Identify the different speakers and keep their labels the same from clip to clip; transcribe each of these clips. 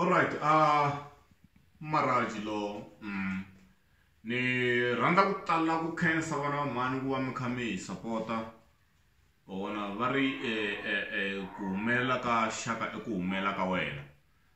Speaker 1: alright a uh, maraji lo mm. ni rhandza ku tala ku khensa vana va mhani ku va mi kha mi hi sapota vona va ri eh, eh, eh, ku humelela ka xaka i ku humelela ka wena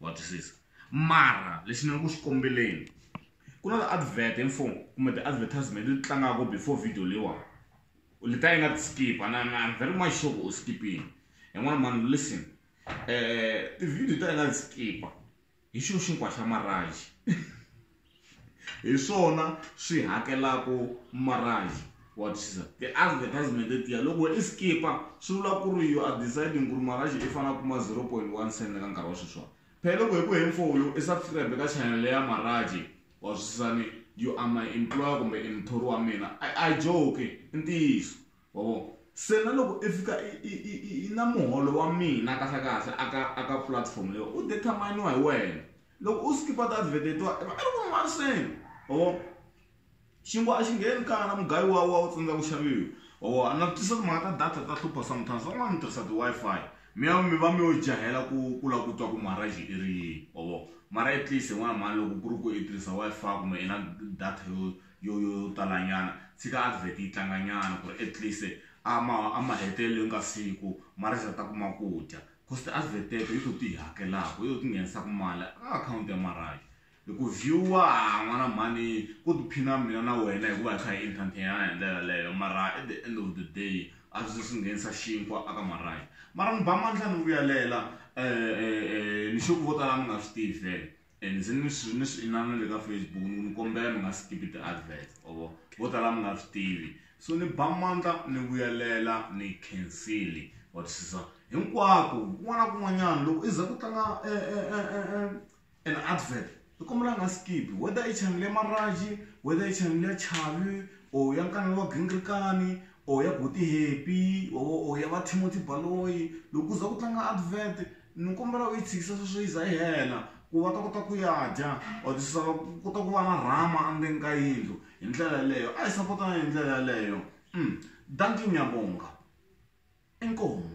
Speaker 1: wa twisisa mara lexi ni nga ku xi kombeleni ku na ti-advert infom kumbe ti-advertisement leti tlangaka before video leyiwani leta yi nga ti skip and I'm very much sure ku u skipini yin'wana mani listen um ti-video ta yi nga ti skipa hi xilo xinkwa xa maraji hi swona swi hakelaka marhavi wa twisisa ti-advertisement letiya loko i skipa swi vula ku ri you are deciding ku ri marhavi i fanele a kuma 0.1 cent ka nkarhi wa sweswiwani phela loko hi ku heni for u i subscribe ka channel ya marhavi wa twisisani you are my employer kumbe i muthori wa mina a joke i ntiyiso wa vona se na loko i fika i na muholo wa mina kahlekahle aka aka platform leyi u determine-iwa hi wena Loko u skipa ti advert to i va i ri ku mariseni or xinkwa a xi ngheni kaya na mugayo wa wa u tsandza ku xaviwa or a na tisa timhaka ta data ta hlupha sometimes van'wana mi tirhisa ti Wi-Fi mi ya mi va mi yo jahela ku ku la ku twa ku marriage i ri yini or mara at least n'wana mhani loko ku ri ku i tirhisa Wi-Fi kumbe i na data yo yo yo yo talanyana tshika advert yi tlanganyana ku ri at least a ma a mahetelelweni ka siku marriage a ta kuma ku dya cost a swi veteke i ku ti hakelaka i ti nghenisaka mali ka akhawunti ya marhayi hi ku view-wa n'wana mhani ku tiphina mina na wena hikuva hi kha hi entertain-ana hi ndlela yaleyo mara at the end of the day a swi swi nghenisa xinkwa aka marhayi mara ni ba mandla ni vuyalela um ni xo ku vo tala mi nga swi tivi vhele and ndzi ni swi ni swi inana le ka facebook ni ku ni kombela mi nga skipi ti-advert ovo vo tala mi nga swi tivi so ni ba mandla ni vuyelela ni khensili wa twisisa hinkwako kun'wana na kun'wanyana loko i za ku tlanga e, e, e, an advert i kombela nga skipi whether i chanele ya maraji whether i chanele ya chavi or ya nkanelo wa gingirikani or ya boti happy or ya va timothy baloyi loko u za ku tlanga advert Ni kombela u yi tshikisa sweswo yi za yi hela ku va ta kota ku ya dya or ti susa va kota ku va na rhama endzeni ka yindlu hi ndlela yeleyo a hi sapotana hi ndlela yeleyo dankie ngiyabonga inkomu.